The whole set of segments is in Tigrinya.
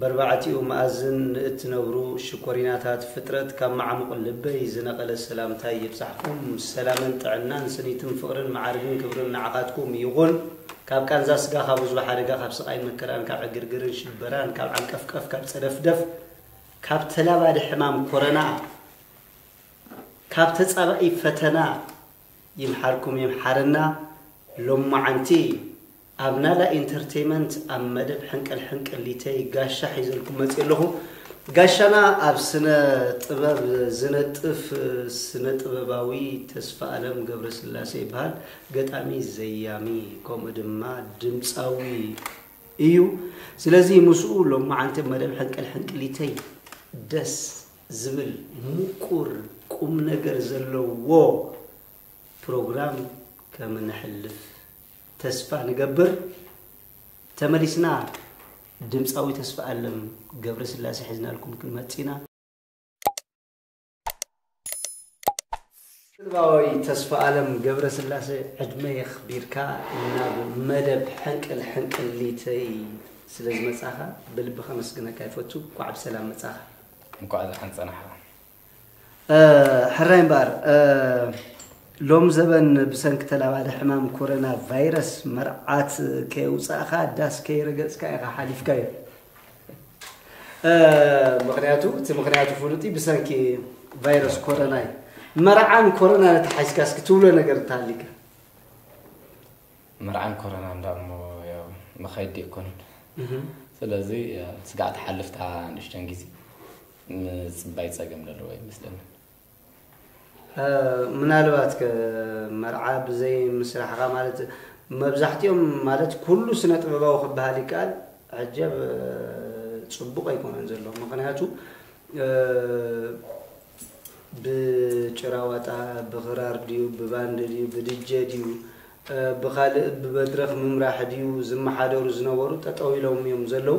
በርባዕቲኡ መኣዝን ንእትነብሩ ሽኮሪናታት ፍጥረት ካብ መዓሙቕ ልበይ ዝነቐለ ሰላምታይ ይብጻሕኩም። ሰላምን ጥዕናን ስኒትን ፍቕርን መዓርግን ክብርን ንዓኻትኩም ይኹን። ካብ ቃንዛ ስጋ ካብ ህዝቢ ሓደጋ ካብ ስቓይን መከራን ካብ ዕግርግርን ሽበራን ካብ ዓንቀፍቀፍ ካብ ጸደፍደፍ ካብ ተላባዲ ሕማም ኮረና ካብ ተጻባኢ ፈተና ይምሓርኩም ይምሓረና ሎማዓንቲ ኣብ ናላ ኢንተርተይመንት ኣብ መደብ ሕንቅል ሕንቅሊተይ ጋሻ ሒዘልኩም መጽየ ኣለኹ። ጋሻና ኣብ ስነ ጥበብ ዝነጥፍ ስነ ጥበባዊ ተስፋኣለም ገብረስላሴ ይበሃል። ገጣሚ፣ ዘያሚ ከምኡ ድማ ድምጻዊ እዩ። ስለዚ ምስኡ ሎማዓንቲ ኣብ መደብ ሕንቅል ሕንቅሊተይ ደስ ዝብል ምቁር ቁም ነገር ዘለዎ ፕሮግራም ከምነሕልፍ ተስፋ ንገብር። ተመሊስና ድምፃዊ ተስፋኣለም ገብረስላሴ ሒዝናልኩም ክንመፅእ ኢና። ድምፃዊ ተስፋኣለም ገብረስላሴ ዕድመ የኽቢርካ ናብ መደብ ሕንቅል ሕንቅሊተይ ስለዝመፃኻ ብልቢ ከመስግነካ ይፈቱ። እንኳዕ ብሰላም መፃኻ። እንኳዕ ደሓን ፀናሕኻ። ሕራይ እምበኣር ሎም ዘበን ብሰንኪ ተላባዲ ሕማም ኮረና ቫይረስ መርዓት ከየውፃእኻ ዳስ ከይረገፅካ ኢኻ ሓሊፍካዮ ምክንያቱ እቲ ምክንያቱ ፍሉጥ ብሰንኪ ቫይረስ ኮረና እዩ መርዓን ኮረና ተሓይዝካ እስኪ ትብሎ ነገር እንተሃሊካ መርዓን ኮረና እንዳ እሞ መኸዲ ኣይኮነን ስለዚ ስጋዕ ተሓልፍታ ንእሽተን ግዜ ምጽባይ ጸገም ዘለዎ ይመስለኒ። ምናልባት ከ መርዓ ብዘይ ምስራሕኻ ማለት መብዛሕትኦም ማለት ኩሉ ስነ ጥበባዊ ክበሃል ይከኣል ሕጀብ ፅቡቅ ኣይኮነን ዘሎ ምክንያቱ ብጭራዋጣ ብክራር ድዩ ብባንድ ድዩ ብድጀ ድዩ ብካልእ ብመድረክ ምምራሕ ድዩ ዝመሓደሩ ዝነበሩ ጠጠው ኢሎም እዮም ዘለው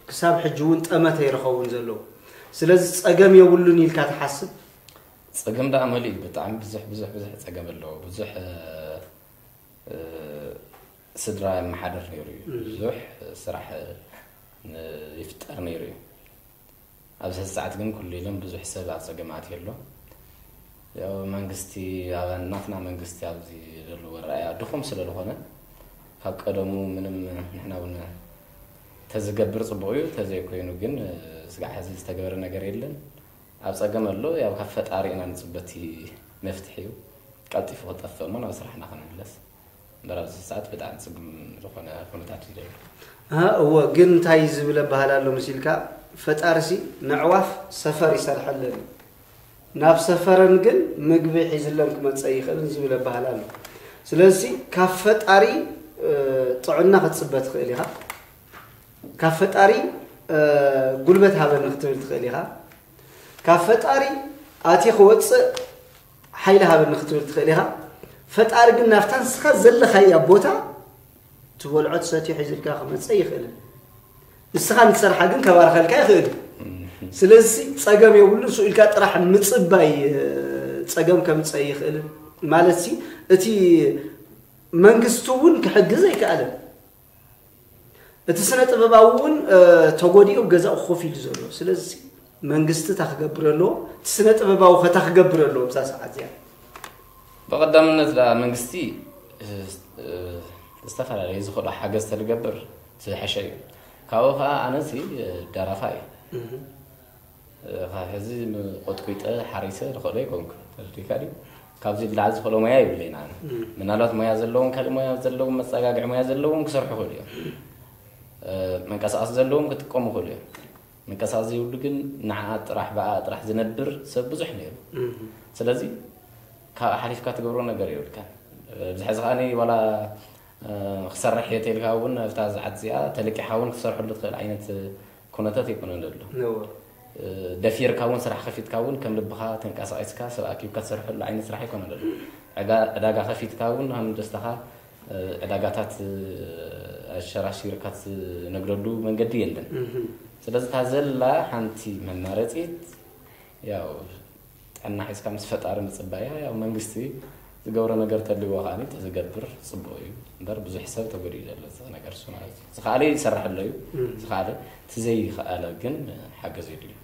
ክሳብ ሕጂ እውን ጠመተ እዩ ዝኸውን ዘሎ ስለዚ ፀገም የብሉን ኢልካ ትሓስብ ፀገም ደኣ መሊእ እዩ ብጣዕሚ ብዙሕ ብዙሕ ብዙሕ ፀገም ኣለዎ ብዙሕ ስድራ የመሓደር ነይሩ እዩ ብዙሕ ስራሕ ይፍጠር ነይሩ እዩ ኣብዚ ሕዚ ሰዓት ግን ኩሉ ኢሎም ብዙሕ ሰብ ኣብ ጸገም ኣትዩ ኣሎ። ያው መንግስቲ ኣብ ናትና መንግስቲ ኣብዚ ዘለዎ ኣረኣእያ ድኹም ስለ ዝኾነ ካብ ቀደሙ ምንም ንሕና እውን ተዝገብር ጽቡቕ እዩ ተዘይኮይኑ ግን ስጋዕ ሕዚ ዝተገበረ ነገር የለን። ኣብ ጸገም ኣሎ ያው ካብ ፈጣሪ ኢና ንጽበ እቲ መፍትሒኡ ቀልጢፉ ክጠፍእ እሞ ናብ ስራሕና ክንምለስ። እምበር ኣብዚ ሰዓት ብጣዕሚ ጽግም ዝኾነ ኩነታት እዩ ዘሎ። ኣህ እወ ግን እንታይ ዝብል ኣባህላ ኣሎ መሲልካ ፈጣሪሲ ነዕዋፍ ሰፈር ይሰርሐለን እዩ ናብ ሰፈረን ግን ምግቢ ሒዝለን ክመጸ ይኽእልን ዝብል ኣባህላ ኣሎ ስለዚ ካብ ፈጣሪ ጥዕና ክትጽበ ትኽእል ኢኻ ካብ ፈጣሪ ጉልበት ሃበኒ ክትብል ትኽእል ኢኻ ካብ ፈጣሪ ኣትየ ክወጽእ ሓይሊ ሃበኒ ክትብል ትኽእል ኢኻ ፈጣሪ ግን ናብታ ንስኻ ዘለኻያ ቦታ ትበልዖ ትሰትዮ ሒዝልካ ክመፀ ይኽእልን ንስኻ ንትሰርሓ ግን ከባርኸልካ ይኽእል ስለዚ ፀገም የብሉ ንሱ ኢልካ ጥራሕ ምፅባይ ፀገም ከምፀ ይኽእልን ማለት እቲ መንግስቲ እውን ክሕግዝ ኣይከኣለን እቲ ስነ ጥበባዊ እውን ተጎዲኡ ኣብ ገዛኡ ኮፍ ኢሉ ዘሎ ስለዚ መንግስቲ እታ ክገብር ኣለዎ እቲ ስነ ጥበባዊ ከታ ክገብር ኣለዎ ኣብዛ ሰዓት እዚኣ ብቐዳምነት ዳ መንግስቲ ዝተፈላለዩ ዝኽእሎ ሓገዝ ተዝገብር ዝሓሸ እዩ ካብኡ ከዓ ኣነዚ ደራፋ እዩ ካብ ሕዚ ቆጥቂጠ ሓሪሰ ዝኸእሎ ኣይኮንኩን ተረዲካ ድዩ ካብዚ ብላዕሊ ዝኸእሎ ሞያ ይብለይን ኣነ ምናልባት ሞያ ዘለዎም ካልእ ሞያ ዘለዎም መፀጋግዒ ሞያ ዘለዎም ክሰርሑ ይኽእሉ እዮም መንቀሳቐሲ ዘለዎም ክጥቀሙ ይኽእሉ እዮም መንቀሳቐሲ ዘይብሉ ግን ንዓ ጥራሕ ብኣ ጥራሕ ዝነብር ሰብ ብዙሕ ነይሩ ስለዚ ካብ ሓሊፍካ ትገብሮ ነገር የብልካን ብዚ ሕዚ ከዓኒ ዋላ ክሰርሕ እየ ተልካ እውን እብታ ዝዓት እዚኣ ተለቂሓ እውን ክትሰርሐሉ ትኽእል ዓይነት ኩነታት ኣይኮነን ዘሎ። ደፊርካ እውን ስራሕ ከፊትካ እውን ከም ልብኻ ተንቀሳቒስካ ሰብ ኣኪብካ ትሰርሐሉ ዓይነት ስራሕ ኣይኮነን ዘሎ። ዕዳጋ ከፊትካ እውን ከም ደስታኻ ዕዳጋታት ኣሸራሺርካ ትነግደሉ መንገዲ የለን። ስለዚ እታ ዘላ ሓንቲ መማረፂት ያው ጥዕና ሒዝካ ምስ ፈጣሪ ምጽባያ ያው መንግስቲ ዝገብሮ ነገር ተልዎ ከኣ ተዝገብር ጽቡቅ እዩ እምበር ብዙሕ ሰብ ተጎዲኡ ዘሎ እዚ ነገር እሱ ማለት እዩ ዝኸኣለ ይሰራሕ ኣሎ እዩ ዝኸኣለ እቲ ዘይኸኣለ ግን ሓገዝ የድልዩ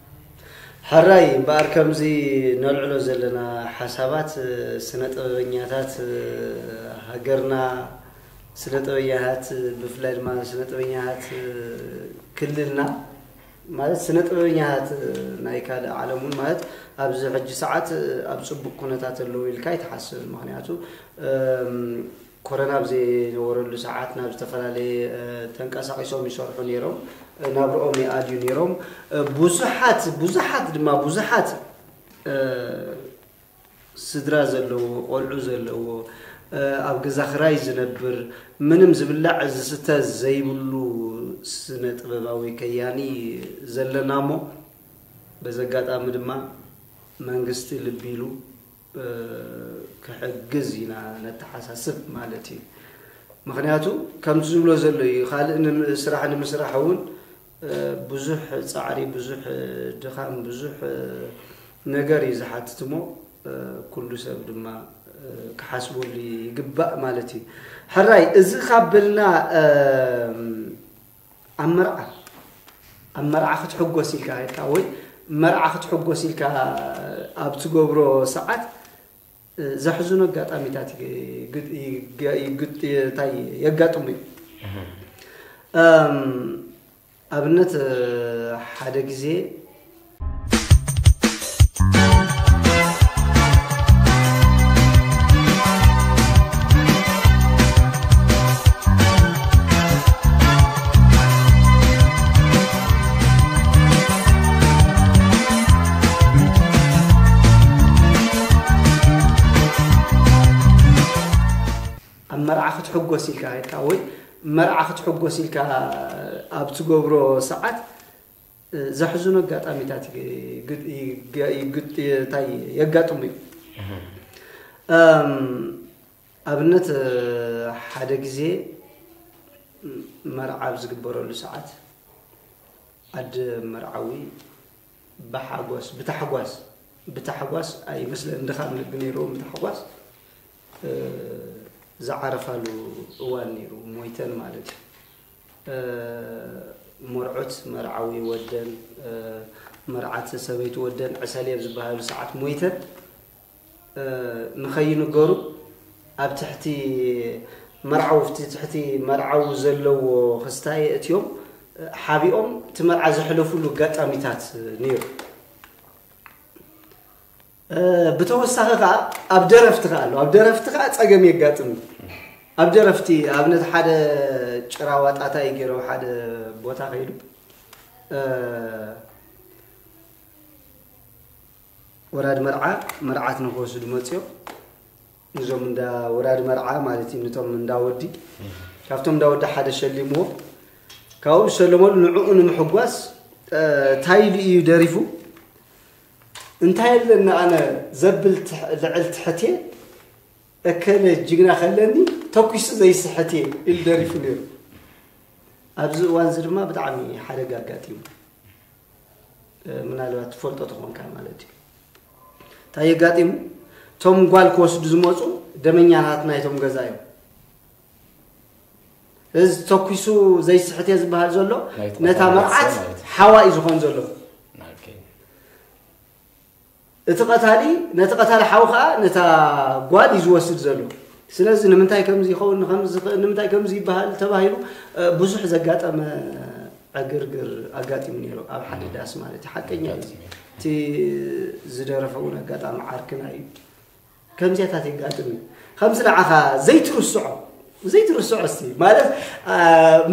ሕራይ እምበኣር ከምዚ ነልዕሎ ዘለና ሓሳባት ስነ ጥበበኛታት ሃገርና ስነ ጥበበኛታት ብፍላይ ድማ ስነ ጥበበኛታት ክልልና ማለት ስነ ጥበበኛታት ናይ ካልእ ዓለም እውን ማለት ኣብዚ ሕጂ ሰዓት ኣብ ጽቡቅ ኩነታት ኣለዉ ኢልካ ኣይትሓስብን ምክንያቱ ኮረና ኣብ ዘይነበረሉ ሰዓት ናብ ዝተፈላለየ ተንቀሳቂሶም ይሰርሑ ነይሮም ናብርኦም ይኣድዩ ነይሮም ብዙሓት ብዙሓት ድማ ብዙሓት ስድራ ዘለዎ ቆልዑ ዘለዎ ኣብ ገዛ ክራይ ዝነብር ምንም ዝብላዕ ዝስተ ዘይብሉ ስነ ጥበባዊ ከያኒ ዘለና እሞ በዚ ኣጋጣሚ ድማ መንግስቲ ልቢ ኢሉ ክሕግዝ ኢና ነተሓሳስብ ማለት እዩ። ምክንያቱ ከምቲ ዝብሎ ዘሎ እዩ ካልእ ስራሕ ንምስራሕ እውን ብዙሕ ጻዕሪ ብዙሕ ድኻም ብዙሕ ነገር እዩ ዝሓትት እሞ ኩሉ ሰብ ድማ ክሓስበሉ ይግባእ ማለት እዩ ሕራይ እዚ ካብ በልና ኣብ መርዓ ኣብ መርዓ ክትሕጎስ ኢልካ ወይ መርዓ ክትሕጎስ ኢልካ ኣብ ትገብሮ ሰዓት ዘሕዝኑ ኣጋጣሚታት ታይ የጋጥሙ እዩ ኣብነት ሓደ ግዜ ኣብ መርዓ ክትሕጎስ ኢልካ ኢልካ ወይ መርዓ ክትሕጎስ ኢልካ ኣብ ትገብሮ ሰዓት ዘሕዝኑ ኣጋጣሚታት የጋጥሙ እዩ ኣብነት ሓደ ግዜ መርዓ ኣብ ዝግበረሉ ሰዓት ኣደ መርዓዊ ብሓጎስ ብታሕጓስ ብታሕጓስ ኣይመስለን እንድኻም ልቢ ነይርዎም ብታሕጓስ ዝዓረፋሉ እዋን ነይሩ ሞይተን ማለት እዩ መርዑት መርዓዊ ወደን መርዓት ሰበይቲ ወደን ዕሰል እየብ ዝበሃሉ ሰዓት ሞይተን ንኸይንገሩ ኣብ ትሕቲ መርዓዊ ኣብቲ ትሕቲ መርዓዊ ዘለዎ ክስታ የእትዮም ሓቢኦም እቲ መርዓ ዘሕለፉሉ ኣጋጣሚታት ነይሩ። ብተወሳኺ ከዓ ኣብ ደረፍቲ ከዓ ኣሎ ኣብ ደረፍቲ ከዓ ፀገም የጋጥም ኣብ ደረፍቲ ኣብነት ሓደ ጭራ ዋጣታ እዩ ገይሮ ሓደ ቦታ ከይዱ ወራድ መርዓ መርዓት ንክወስዱ መፅዮ ንዞም እንዳ ወራድ መርዓ ማለት እዩ ንቶም እንዳ ወዲ ካብቶም እንዳ ወዲ ሓደ ሸሊምዎ ካብኡ ዝሸለመሉ ንዕኡ ንምሕጓስ እንታይ ኢሉ እዩ ደሪፉ እንታይ ኣለኒ ኣነ ዘብል ልዕል ትሕት እየ እከለ ጅግና ከለኒ ተኩሱ ዘይስሕት እየ ኢሉ ደሪፉ ነይሩ ኣብዚ እዋን እዚ ድማ ብጣዕሚ ሓደጋ ኣጋጢሙ ምናልባት ትፈልጦ ተኾንካ ማለት እዩ እንታይ የጋጢሙ እቶም ጓል ክወስዱ ዝመፁ ደመኛታት ናይቶም ገዛ እዮም እዚ ተኪሱ ዘይስሕት እየ ዝበሃል ዘሎ ነታ መርዓት ሓዋ እዩ ዝኾን ዘሎ እቲ ቀታሊ ነቲ ቀታሊ ሓው ከዓ ነታ ጓል እዩ ዝወስድ ዘሎ ስለዚ ንምንታይ ከምዚ ይኸውን ንምንታይ ከምዚ ይበሃል ተባሂሉ ብዙሕ ዘጋጠመ ዕግርግር ኣጋጢሙ ነይሩ ኣብ ሓደ ዳስ ማለት እዩ ሓቀኛ እዩ እቲ ዝደረፈ እውን ኣጋጣሚ ዓርክና እዩ ከምዚያታት የጋጥም እዩ ከምዚ ንዓኻ ዘይትርስዖ ዘይትርስዖ እስቲ ማለት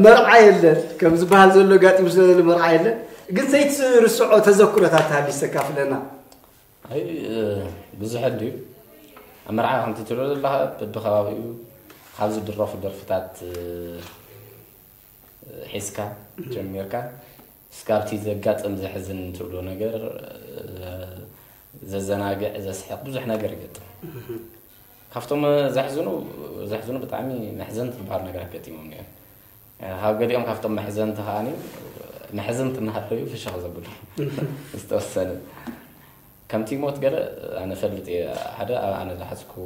መርዓ የለን ከም ዝበሃል ዘሎ ጋጢሙ ስለዘሎ መርዓ የለን ግን ዘይትርስዖ ተዘክሮታት ተሃልዩ ዝተካፍለና ኣይ ብዙሕ ድዩ ኣብ መርዓ ከምቲ ትብሎ ዘለካ በብከባቢኡ ካብ ዝድረፉ ደርፍታት ሒዝካ ጀሚርካ እስካብቲ ዘጋጥም ዘሕዝን ትብሎ ነገር ዘዘናግዕ ዘስሕቅ ብዙሕ ነገር ይገጥም ካብቶም ዘሕዝኑ ዘሕዝኑ ብጣዕሚ መሕዘንቲ ዝበሃሉ ነገራት ገጢሞም እዮም ካብ ገሊኦም ካብቶም መሕዘንቲ ከዓኒ መሕዘንቲ እናሃለዩ ፍሽኽ ዘብሉ ዝተወሰነ ከምቲ ሞት ገለ ኣነ ፈልጥ እየ ሓደ ኣብ ኣነ ዝሓዝክዎ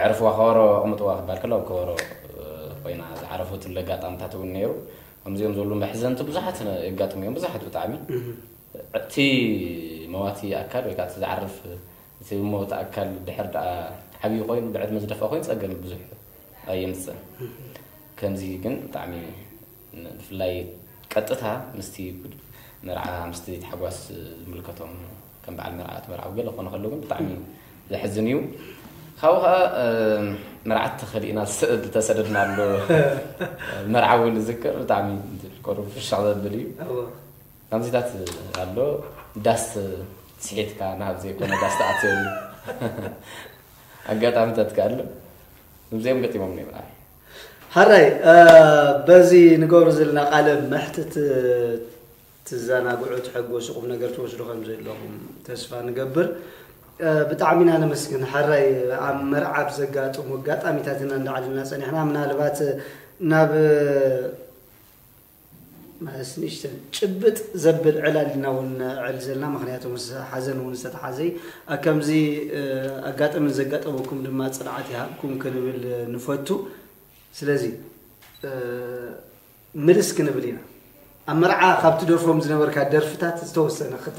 ኣዕርፍዋ ከበሮ ኣቕምጥዋ ክበሃል ከሎ ኣብ ከበሮ ኮይና ዝዓረፈትሉ ኣጋጣምታት እውን ነይሩ ከምዚኦም ዘሉ መሕዘንቲ ብዙሓት የጋጥሙ እዮም ብዙሓት ብጣዕሚ እቲ መዋቲ ኣካል ወይ ከዓ እቲ ዝዓርፍ እቲ መወቲ ኣካል ድሕር ደኣ ዓብዪ ኮይኑ ብዕድመ ዝደፍኣ ኮይኑ ፀገም ብዙሕ ኣየምፅእን ከምዚ ግን ብጣዕሚ ብፍላይ ቀጥታ ምስቲ መርዓ ምስቲ ታሕጓስ ዝምልከቶም ከም በዓል መርዓት መርዓዊ ገለ ክኾኑ ከለዉ ግን ብጣዕሚ ዘሕዝን እዩ ካብኡ ከዓ መርዓት ተኸሊእና ዝተሰደድና ኣሎ መርዓዊ ንዝክር ብጣዕሚ ቆሩ ፍሻቕ ዘብል እዩ ከምዚታት ኣሎ ዳስ ስሒትካ ናብ ዘይኮነ ዳስ ተኣትዮ ኣጋጣሚታት ከ ኣሎ እዚኦም ገጢሞም ነይም ሐራይ በዚ ንገብሮ ዘለና ቃለ መሕትት ትዘናግዑ ትሕጎሱ ቁም ነገር ትወስዱ ከምዘለኹም ተስፋ ንገብር ብጣዕሚ ኢና ነመስግን ሐራይ ኣብ መርዓ ኣብ ዘጋጥሙ ኣጋጣሚታት ኢና እንዳዓልና ጸኒሕና ምናልባት ናብ ምስ ንእሽተን ጭብጥ ዘብል ዕላል ኢና እውን ነዕል ዘለና፣ ምኽንያቱ ምስ ሓዘን እውን ዝተተሓዘ እዩ። ኣብ ከምዚ ኣጋጥሚ ንዘጋጠመኩም ድማ ጽንዓት ይሃብኩም ክንብል ንፈቱ። ስለዚ ምልስ ክንብል ኢና። ኣብ መርዓ ካብ ትደርፎም ዝነበርካ ደርፍታት ዝተወሰነ ክተ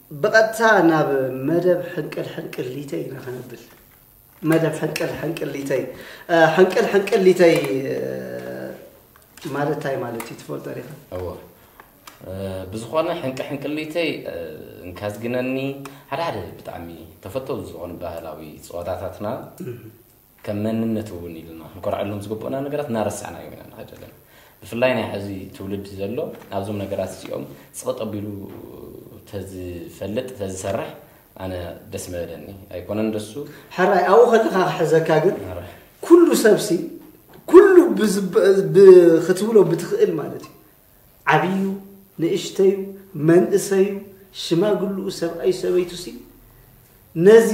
ብቐጥታ ናብ መደብ ሕንቅል ሕንቅሊተይ ኢና ከነብል። መደብ ሕንቅል ሕንቅሊተይ ሕንቅል ሕንቅሊተይ ማለት እንታይ ማለት እዩ ትፈልጦ ዲኻ? እወ ብዝኾነ ሕንቂ ሕንቅሊተይ እንካዝግነኒ ሓደ ሓደ ብጣዕሚ ተፈተውቲ ዝኾኑ ባህላዊ ፀወታታትና ከም መንነት እውን ኢልና ክንኮርዐሎም ዝግብኡና ነገራት እናረሳዕናዮም ኢና ንኸይድ ዘለና። ብፍላይ ናይ ሕዚ ትውልዲ ዘሎ ናብዞም ነገራት እዚኦም ጽቕጥ ኣቢሉ ተዝፈልጥ ተዝሰርሕ ኣነ ደስ ምበለኒ። ኣይኮነን ደሱ ሕራይ ኣብኡ ከለካ ክሕዘካ ግን ኩሉ ሰብሲ ኩሉ ክትብሎ ብትኽእል ማለት እዩ ዓብዩ ንእሽተዩ መንእሰዩ ሽማግልኡ ሰብኣዩ ሰበይቱሲ ነዚ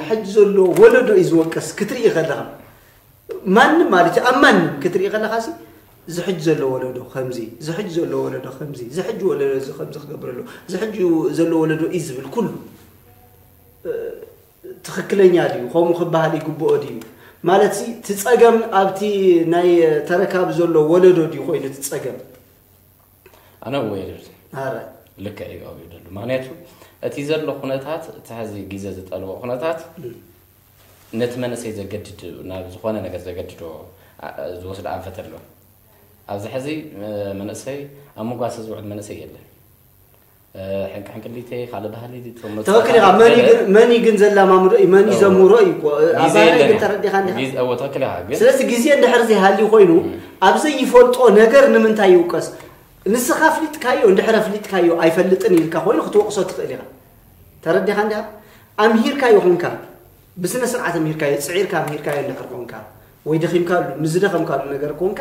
ሕጂ ዘሎ ወለዶ እዩ ዝወቀስ ክትርኢ ከለኻ ማንም ማለት እዩ ኣብ ማንም ክትርኢ ከለኻ ሲ ዝሕጅ ዘሎ ወለዶ ከምዚ ዝሕጅ ዘሎ ወለዶ ከምዚ ዝሕጅ ወለዶ እዚ ከምዚ ክገብር ኣለዎ ዝሕጅ ዘሎ ወለዶ እዩ ዝብል ኩሉ ትኽክለኛ ድዩ ከምኡ ክበሃል ይግብኦ ድዩ ማለት ሲ እቲ ፀገም ኣብቲ ናይ ተረካቢ ዘሎ ወለዶ ድዩ ኮይኑ እቲ ፀገም ኣነ ወይርድ ኣረ ልክዕ እዩ ኣብኡ ደሉ ምክንያቱ እቲ ዘሎ ኩነታት እቲ ሕዚ ግዜ ዝጠልቦ ኩነታት ነቲ መንእሰይ ዘገድድ ናብ ዝኾነ ነገር ዘገድዶ ኣ- ዝወስድ ኣንፈት ኣሎ ኣብዚ ሕዚ እ፣ መንእሰይ ኣብ መጓሰ ዝውዕል መንእሰይ የለን ሕንቅሕንቅሊተይ ካልእ ባህሊ ትክክል ኢኻ መን እዩ ግን ዘላማምዶ እዩ መን እዩ ዘምህሮ እዩ እኮ ኣባሪ ግን ተረዲኻ ትክክል ኢኻ ግን ስለዚ ግዜ እንድሕር ዘይሃልዩ ኮይኑ ኣብ ዘይፈልጦ ነገር ንምንታይ ይውቀስ ንስኻ ፍሊጥካዮ እንድሕር ፍሊጥካዮ ኣይፈልጥን ኢልካ ኮይኑ ክትወቅሶ ትኽእል ኢኻ ተረዲኻ እንዲኻ ኣምሂርካዮ ኮንካ ብስነ ስርዓት ኣምሂርካዮ ፅዒርካ ኣምሂርካዮ እንድሕር ኮንካ ወይ ደኺምካሉ ምስ ዝደኸምካሉ ነገር ኮንካ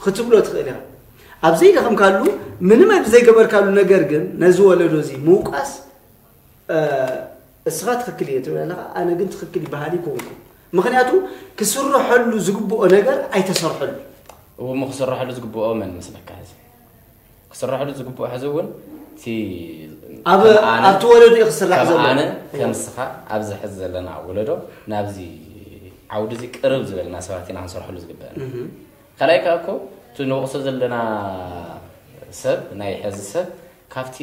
ክትብሎ ትኽእል ኢኻ ኣብ ዘይደኸምካሉ ምንም ኣብ ዘይገበርካሉ ነገር ግን ነዚ ወለዶ እዚ ምውቃስ እስኻ ትኽክል እየ ትብል ኣለኻ ኣነ ግን ትኽክል ይበሃል ይኮንኩ ምክንያቱ ክስርሐሉ ዝግብኦ ነገር ኣይተሰርሐሉ እሞ ክስርሐሉ ዝግብኦ መን መስለካ እዚ ክስራሕሉ ዝግብኦ ሕዚ እውን እቲ ኣብ ኣብቲ ወለዶ እዩ ክስራሕ ዘሎ ኣነ ከምስኻ ኣብዚ ሕዚ ዘለና ወለዶ ናብዚ ዓውዲ እዚ ቅርብ ዝበለና ሰባት ኢና ክንሰርሐሉ ዝግበአና ካልኣይ ከዓ እኮ እቲ ንወቕሶ ዘለና ሰብ ናይ ሕዚ ሰብ ካብቲ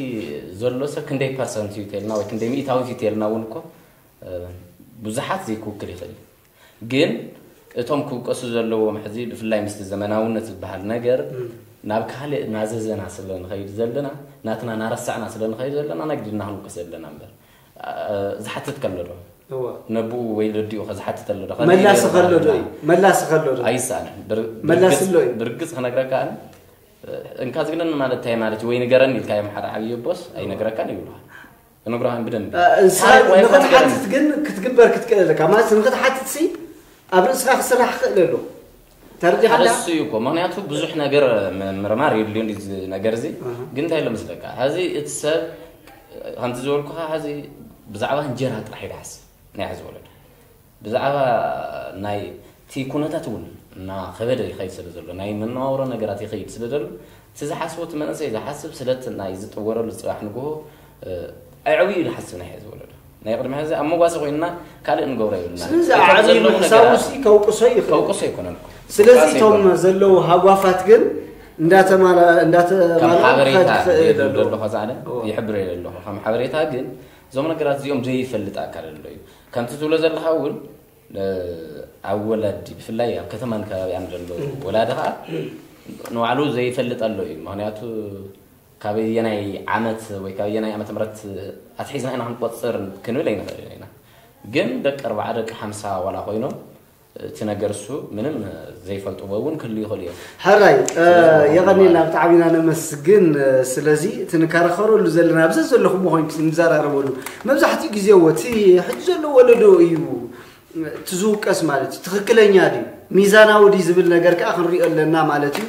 ዘሎ ሰብ ክንደይ ፐርሰንት እዩ ተልና ወይ ክንደይ ሚእታዊት እዩ ተልና እውን እኮ ብዙሓት ዘይክውክል ይኽእል እዩ ግን እቶም ክውቀሱ ዘለዎም ሕዚ ብፍላይ ምስቲ ዘመናውነት ዝበሃል ነገር ናብ ካልእ ናዘዘና ስለ ንኸይድ ዘለና ናትና ናረሳዕና ስለ ንኸይድ ዘለና ናግድና ክንውቀስ ዘለና እምበር ዝሓትት ከሎ ዶ ነብኡ ወይ ረዲኡ ከዝሓትት ኣሎ ዶ መላሲ ከሎ ዶ መላሲ ከሎ ዶ ኣይሰኣንን መላሲ ኣሎ ብርግጽ ክነግረካ ኣነ እንካ ዝግነን ማለት እንታይ ማለት ወይ ንገረኒ ኢልካ እዮም ሓደ ዓብዪ ቦስ ኣይነግረካን ይብልሃል እነግርሃን ብደንብ ንክትሓትት ግን ክትግበር ክትክእል ኣለካ ማለት ንክትሓትት ሲ ኣብ ርእስኻ ክስራሕ ክእል ኣሎ ተረዲኻለሱ እዩ እኮ ምክንያቱ ብዙሕ ነገር ምርማር የድልዮ እዚ ነገር እዚ ግን እንታይ ኣሎ መስለካ ሀዚ እቲ ሰብ ከምቲ ዝበልኩኻ ሀዚ ብዛዕባ እንጀራ ጥራሕ ይዳሓስ ናይ ሕዚ ወለዶ ብዛዕባ ናይ'ቲ ኩነታት እውን እናኸበደ ይኸይድ ስለ ዘሎ፣ ናይ መነባብሮ ነገራት ይኸይድ ስለ ዘሎ፣ እቲ ዝሓስቦ እቲ መንእሰይ ዝሓስብ ስለ'ቲ ናይ ዝጥወረሉ ጽባሕ ንግሆ ኣዕብዩ ዝሓስብ ናይ ሕዚ ወለዶ። ናይ ቅድሚ ሕዚ ኣብ መጓሰ ኮይንና ካልእ እንገብሮ የብልናን። ስለዚ ኣዕብዩ ምሕሳቡሲ ከውቅሶ ይኽእል። ከውቅሶ ኣይኮነን እኮ። ስለዚ እቶም ዘለዉ ሃጓፋት ግን እንዳተማልኡ ከም ሓበሬታ ክኸድ ክኽእል የድርዶ ኣለዎ። ኣለኹ ዛዕለ ይሕብር የለ ኣለኹ ከም ሓበሬታ ግን እዞም ነገራት እዚኦም ዘይፈልጥ ኣካል ኣሎ እዩ ከምቲ ትብሎ ዘለኻ እውን ኣብ ወላዲ ብፍላይ ኣብ ከተማን ከባቢኣን ዘሎ ወላዲ ከዓ ንባዕሉ ዘይፈልጥ ኣሎ እዩ ምክንያቱ ካበየናይ ዓመት ወይ ካበየናይ ዓመተ ምረት ኣትሒዝና ኢና ክንቆፅር ክንብል ኣይንኽእል ኢና ግን ደቂ ኣርባዓ ደቂ ሓምሳ ዋላ ኮይኖም እቲ ነገር እሱ ምንም ዘይፈልጥዎ እውን ክህሉ ይኽእሉ እዮም። ሕራይ የቐኒልና ብጣዕሚ ኢና ነመስግን ስለዚ እቲ ንከራኸረሉ ዘለና ኣብ ዘዘለኹምዎ ኮይንኩም ንዘራረበሉ መብዛሕትኡ ግዜ እዎ እቲ ሕጂ ዘሎ ወለዶ እዩ እቲ ዝውቀስ ማለት እዩ ትኽክለኛ ድዩ ሚዛናዊ ድዩ ዝብል ነገር ከዓ ክንሪኦ ኣለና ማለት እዩ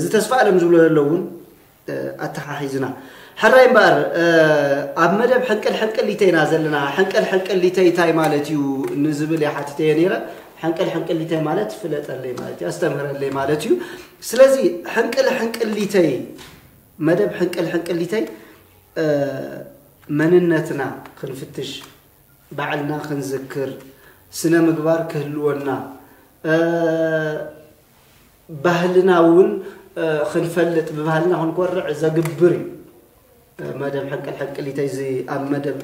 ዝተስፋ ኣለም ዝብሎ ዘሎ እውን ኣተሓሒዝና ሕራይ እምበኣር ኣብ መደብ ሕንቅል ሕንቅሊተይ ኢና ዘለና ሕንቅል ሕንቅሊተይ እንታይ ማለት እዩ ንዝብል እየ ሓቲተየ ነይረ ሕንቅል ሕንቅሊተይ ማለት ፍለጠለይ ማለት እዩ ኣስተምህረለይ ማለት እዩ ስለዚ ሕንቅል ሕንቅሊተይ መደብ ሕንቅል ሕንቅሊተይ መንነትና ክንፍትሽ ባዕልና ክንዝክር ስነ ምግባር ክህልወና ባህልና እውን ክንፈልጥ ብባህልና ክንኮርዕ ዘግብር እዩ። መደብ ሕንቅል ሕንቅሊተይ እዚ ኣብ መደብ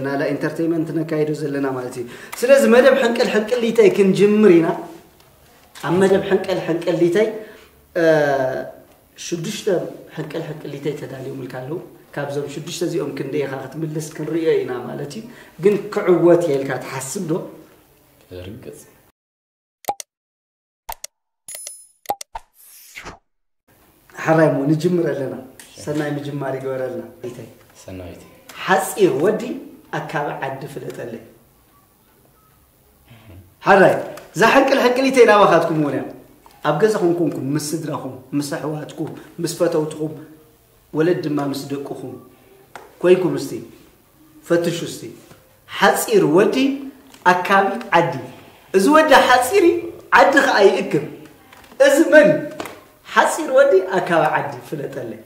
ናላ ኢንተርቴንመንት ነካይዶ ዘለና ማለት እዩ ስለዚ መደብ ሕንቅል ሕንቅሊተይ ክንጅምር ኢና ኣብ መደብ ሕንቅል ሕንቅሊተይ ሽዱሽተ ሕንቅል ሕንቅሊተይ ተዳልዮምልካ ኣለዉ ካብዞም ሽዱሽተ እዚኦም ክንደይ ኢኻ ክትምልስ ክንሪኦ ኢና ማለት እዩ ግን ክዕወት የልካ ትሓስብ ዶ ርግፅ ሓራይ እሞ ንጅምር ኣለና ሰናይ ምጅማር ይገበረልና ቤተይ ሰናይት ሓፂር ወዲ ኣካቢ ዓዲ ፍለጠለይ ሓራይ እዛ ሕንቅል ሕንቅሊተይ ናባኻትኩም እውን እያ ኣብ ገዛኹም ኮንኩም ምስ ስድራኹም ምስ ኣሕዋትኩም ምስ ፈተውትኹም ወለድ ድማ ምስ ደቅኹም ኮይንኩም እስቲ ፈትሹ እስቲ ሓጺር ወዲ ኣካቢ ዓዲ እዚ ወዲ ሓጺሪ ዓዲ ከኣ ይእክብ እዚ መን እዩ ሓጺር ወዲ ኣካቢ ዓዲ ፍለጠለይ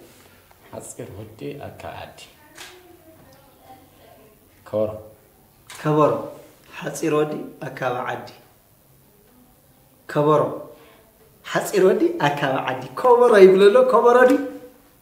ሓጺር ወዲ ኣካቢ ዓዲ ከበሮ ከበሮ ሓጺር ወዲ ኣካቢ ዓዲ ከበሮ ሓጺር ወዲ ኣካቢ ዓዲ ከበሮ ይብለሎ ከበሮ ድዩ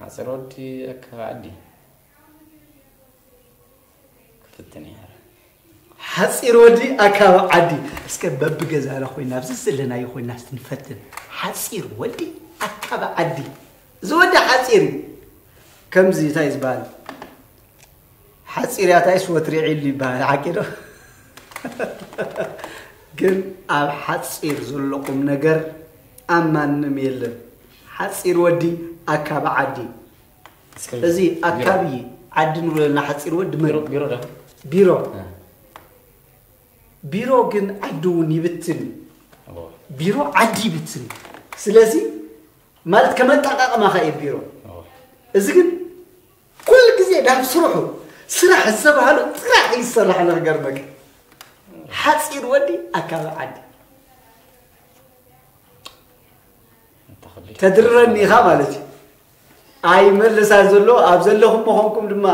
ሓፂር ወዲ ኣከባዕዲ ክፍትን እያ ሓፂር ወዲ ኣካብ ዓዲ እስከ በቢ ገዛና ኮይና ኣብዚ ዘለናዮ ኮይና እስቲ ንፈትን ሓፂር ወዲ ኣካብ ዓዲ እዚ ወዲ ሓፂር እዩ ከምዚ እንታይ ዝበሃል ሓፂር ያታይስ ወትሪ ዒሉ ይበሃል ሓቂ ዶ ግን ኣብ ሓፂር ዘሎ ቁም ነገር ኣብ ማንም የለን ሓጺር ወዲ ኣካቢ ዓዲ እዚ ኣካቢ ዓዲ ንብሎ ዘለና ሓጺር ወዲ መን ቢሮ ዶ ቢሮ ቢሮ ግን ዓዲ እውን ይብትን እዩ ቢሮ ዓዲ ይብትን እዩ ስለዚ ማለት ከመጣቃቅማ ከ እዩ ቢሮ እዚ ግን ኩሉ ግዜ ናብ ስርሑ ስራሕ ዝተባሃሉ ጥራሕ እዩ ዝሰራሕ ንክገርመካ ሓፂር ወዲ ኣካባቢ ዓዲ ተድርረኒ ኢኻ ማለት እዩ ኣይመለሳ ዘሎ ኣብ ዘለኹም መኾንኩም ድማ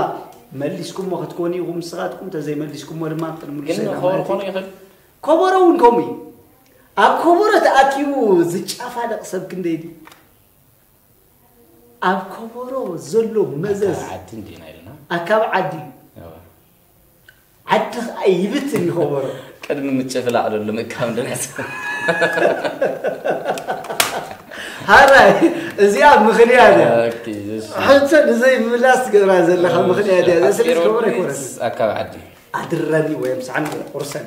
መሊስኩሞ ክትኮኑ ኢኹም ንስኻትኩም ተዘይመሊስኩሞ ድማ ከበሮ እውን ከምኡ እዩ ኣብ ከበሮ ተኣኪቡ ዝጫፋለቕ ሰብ ክንደይ ድዩ ኣብ ከበሮ ዘሎ መዘዝ ኣካብ ዓዲ እዩ ዓዲ ኸኣ ይብትን እዩ ከበሮ። ቅድሚ ምጭፍላቕ ዶ ልምካም ድምጽ። ሃራይ እዚኣ ምኽንያት እያ ሕቶ ንዘይምምላስ ትገብራ ዘለኻ ምኽንያት እያ እዚኣ ስለዚ ከበሮ ኣይኮነትን ኣካብ ዓዲ ኣድረኒ ወይም ሳዕኒ ቁርሰኒ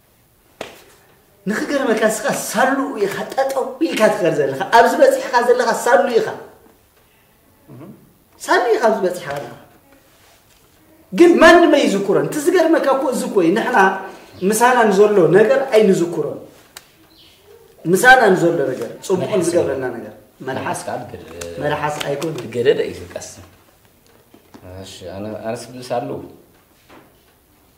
ንክገርመካ ንስኻ ሳሉ ኢኻ ጠጠው ኢልካ ትኸር ዘለኻ ኣብዚ በፂሕኻ ዘለኻ ሳሉ ኢኻ ሳሉ ኢኻ ኣብዚ በፂሕኻ ዘለኻ ግን ማንም ኣይዝኩሮን እቲ ዝገርመካ እኮ እዚ ኮይ ንሕና ምሳና ንዘሎ ነገር ኣይንዝኩሮን ምሳና ንዘሎ ነገር ፅቡቕን ዝገብረና ነገር መልሓስ መልሓስ ኣይኮን ገደደ እዩ ቀስ ኣነስ ብልስ ኣለዉ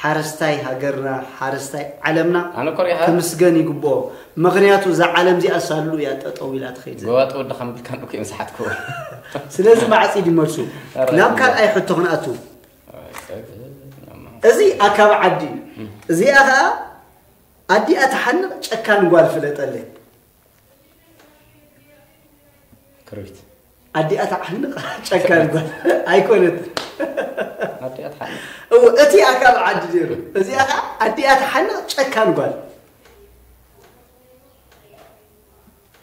ሓረስታይ ሃገርና ሓረስታይ ዓለምና ኣነ ኮሪያ ሃ ክምስገን ይግብኦ ምኽንያቱ እዛ ዓለም እዚኣ ሳሉ እያ ጠጠው ኢላ ትኸይድ ዘላ ጎባጥ ወዲ ከምብልካ ንኩ እዮም ዝሓትክዎ ስለዚ ማዕጺድ ይመልሱ ኧረ ናብ ካልኣይ ሕቶ ክንኣቱ እዚ ኣካብ ዓዲ እዩ እዚኣ ከዓ ኣዲኣ ትሓንቕ ጨካን ጓል ፍለጠለይ ክርቢት ኣዲኣ ተዓንቕ ጨካን ጓል ኣይኮነት ኣዲኣ ተሓንቕ እወ እቲኣ ካብ ዓዲ ነይሩ እዚኣ ከዓ ኣዲኣ ተሓንቕ ጨካን ጓል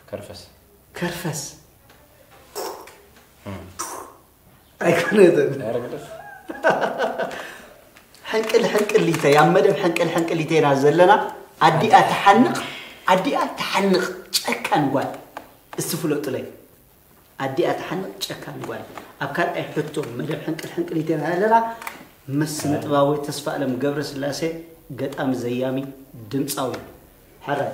ከርፈስ ከርፈስ ኣይኮነትን ሕንቅል ሕንቅሊተ ኣብ መደብ ሕንቅል ሕንቅሊተ ኢና ዘለና ኣዲኣ ትሓንቕ ኣዲኣ ትሓንቕ ጨካን ጓል እስቲ ፍለጡለይ ኣዲኣ ትሓንቕ ጨካን ጓል ኣብ ካልኣይ ሕቶ መደብ ሕንቅል ሕንቅሊተ ኢና ዘለና ምስ ስነ ጥባዊ ተስፋ ኣለም ገብረ ስላሴ ገጣሚ ዘያሚ ድምፃዊ ሕራይ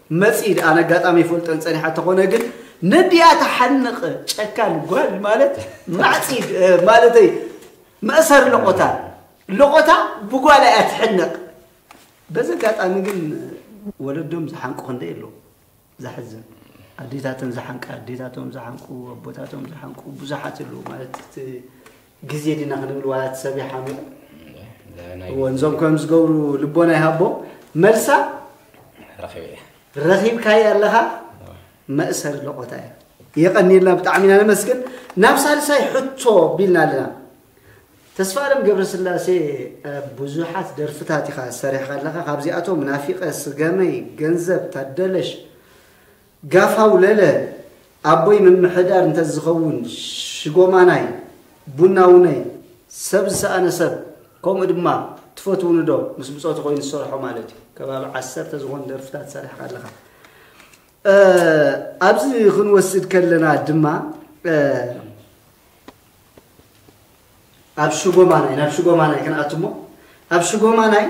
መጺ ድኣ ነጋጣሚ ይፈልጠን ጸኒሓ ተኾነ ግን ነዲኣ ተሓንቕ ጨካን ጓል ማለት ማዕጺ ማለተይ መእሰር ለቆታ ለቆታ ብጓላ እያ ትሕንቕ በዚ ኣጋጣሚ ግን ወለዶም ዝሓንቁ ክንደይ ኣለዉ ዘሕዝን ኣዴታተን ዝሓንቃ ኣዴታቶም ዝሓንቁ ኣቦታቶም ዝሓንቁ ብዙሓት ኣለዉ ማለት ግዜ ዲና ክንብል ዋላ እቲ ሰብ ይሓሚቑ ወንዞም ከም ዝገብሩ ልቦና ይሃቦም መልሳ ረኺብካየ ኣለኻ መእሰሪ ለቆታ እዩ የቐኒልና ብጣዕሚ ኢና ነመስግን ናብ ሳልሳይ ሕቶ ቢልና ኣለና ተስፋ ኣለም ገብረስላሴ ብዙሓት ደርፍታት ኢኻ ሰሪሕካ ኣለካ ካብዚኣቶም ናፊቐ ስገመይ ገንዘብ ታደለሽ ጋፋው ለለ ኣቦይ ምምሕዳር እንተዝኸውን ሽጎማናይ ቡናውነይ ሰብ ዝሰኣነ ሰብ ከምኡ ድማ ትፈትውንዶ ምስ ብጾቱ ኮይኑ ዝሰርሖ ማለት እዩ ከባቢ ዓሰርተ ዝኾኑ ደርፍታት ሰሪሕካ ኣለኻ ኣብዚ ክንወስድ ከለና ድማ ኣብ ሽጎማናይ ናብ ሽጎማናይ ክንኣቱ እሞ ኣብ ሽጎማናይ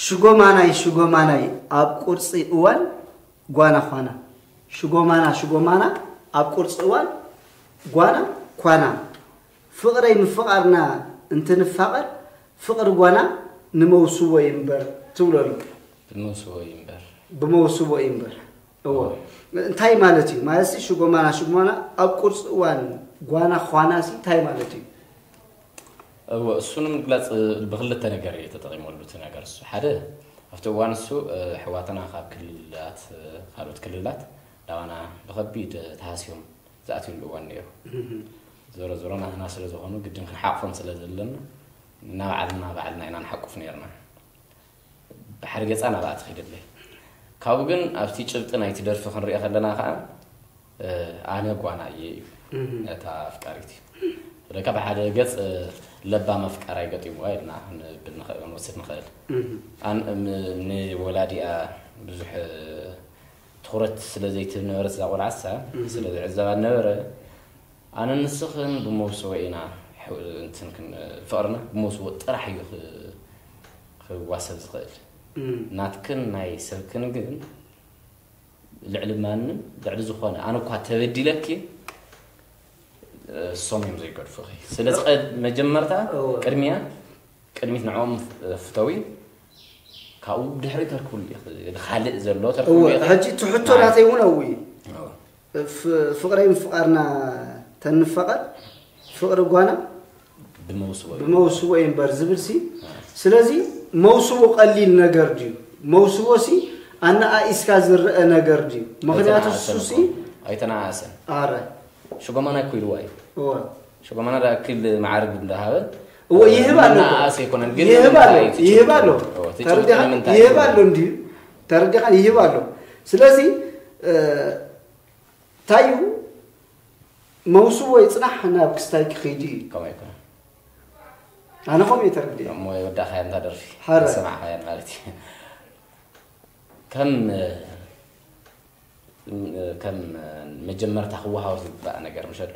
ሽጎማናይ ሽጎማናይ ኣብ ቁርፂ እዋን ጓና ዃና ሽጎማና ሽጎማና ኣብ ቁርፂ እዋን ጓና ኳና ፍቕረይ ምፍቓርና እንትንፋቐር ፍቕሪ ጓና ንመውስቦ እዩ እምበር ትብሎ ኣሎ ብመውስቦ እዩ እምበር ብመውስቦ እዩ እምበር እዎ እንታይ ማለት እዩ ማለት ሽጎማና ሽጎማና ኣብ ቁርፂ እዋን ጓና ኳና እንታይ ማለት እዩ እወ እሱ ንምግላጽ ብክልተ ነገር እዩ ተጠቂመሉ እቲ ነገር እሱ ሓደ ኣብቲ እዋን እሱ ኣሕዋትና ካብ ክልላት ካልኦት ክልላት ናባና ብከቢድ ተሃስዮም ዝኣትዩሉ እዋን ነይሩ ዞሮ ዞሮ ናትና ስለ ዝኾኑ ግድን ክንሓቅፎም ስለ ዘለና ናባዕልና ባዕልና ኢና ንሓቁፍ ነይርና ባሕሪ ገጻ ናብኣ ትኺደለይ ካብኡ ግን ኣብቲ ጭብጢ ናይቲ ደርፊ ክንሪኦ ከለና ከዓ ኣነ ጓና እየ እዩ ነታ ኣፍቃሪት እዩ ስለካ ብሓደ ገፅ ለባም ኣፍቃራይ ገጢሙዋ ኢልና ክንብል ንኽእል ክንወስድ ንኽእል ንወላዲኣ ብዙሕ ትኩረት ስለ ዘይትህብ ነበረት እዛ ቆልዓሳ ስለ ዝዕዘባ ነበረ ኣነን ንስኽን ብመውስቦ ኢና እንትን ክንብል ፍቕርና ብመውስቦ ጥራሕ እዩ ክዋሰብ ዝኽእል ናትክን ናይ ሰብክን ግን ልዕሊ ማንም ልዕሊ ዝኾነ ኣነ እኳ ተበዲለኪ እሶም እዮም ዘይገድፉኺ ስለዚ መጀመርታ ቅድሚያ ቅድሚት ንዕኦም ፍተዊ ካብኡ ድሕሪ ተርክብሉ ካልእ ዘሎ ተርክብሉ ሕጂ ትሕቶ ናተይ እውን ኣውይ እፍ ፍቅረይ ምፍቃርና ተንፋቀር ፍቅሪ ጓና ብመውስቦ እዩ እምበር ዝብል ሲ ስለዚ መውስቦ ቀሊል ነገር ድዩ መውስቦ ሲ ኣነኣኢስካ ዝረአ ነገር ድዩ ምክንያቱ ሱሲ ኣይተነኣሰን ኣረ ሽጎማና ኩልዋ እዩ ሽጎማና ዳ ክል መዓርግ እንዳሃበ እዎ ይህብ ኣሎ ይህብ ኣሎ ይህብ ኣሎ ተርዲኻ ይህብ ኣሎ እንድዩ ተረዲኻ ይህብ ኣሎ ስለዚ እንታይ እዩ መውስቦ ይፅናሕ ናብ ክስታይ ክኸይዱ እዩ ከምኡ ኣይኮነ ኣነ ከምኡ እዩ ተረዲእ እሞ የወዳእኻያ እንታ ደርፊ ሐረ። ሰማዕኻያ ማለት እዩ ከም ከም መጀመርታ ክወሃብ ዝግባእ ነገር ምሸ ኣሎ